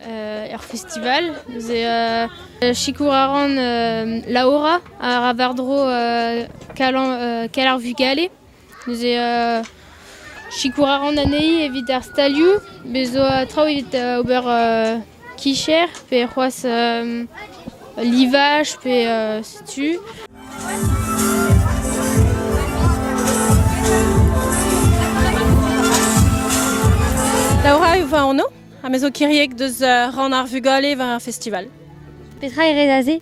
er festival. Neuze sikour a ran Laura a ra war-dro Kal ar vugale. Neuze sikour a ran anezhi evit ar stalioù. Bez zo traoù evit ober kicher pe c'hoazh livage pe setu. Laura, vous êtes en eau Ha me zo kiriek deus rann ar vugale war ar festival. Petra e rez aze?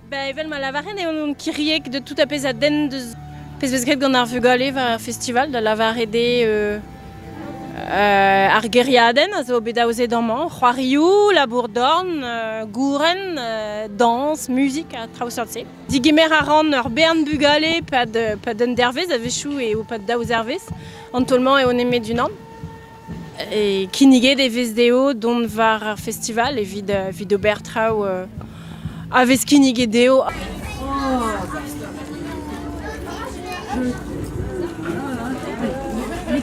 Ba, evel ma lavaren eo on kiriek de tout a pezh a den deus pezh vez graet gant ar vugale war ar festival, da lavaret eo euh, euh, ar geriadenn a zo bet aozet amañ, c'hoarioù, labour-dorn, euh, gouren, dañs, muzik ha traoù seurt-se. Digemer a ran ur bern bugale pad, pad un dervezh a-wechoù e o pad daou zervezh. An taol-mañ eo nemet unan. Kinniget e vez dezho dont war ar festival evit evit ober traoù a vez kinniget dezho.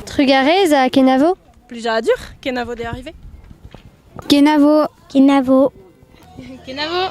Trugarez à Kenavo Plusieurs Kenavo d'est arrivé Kenavo Kenavo Kenavo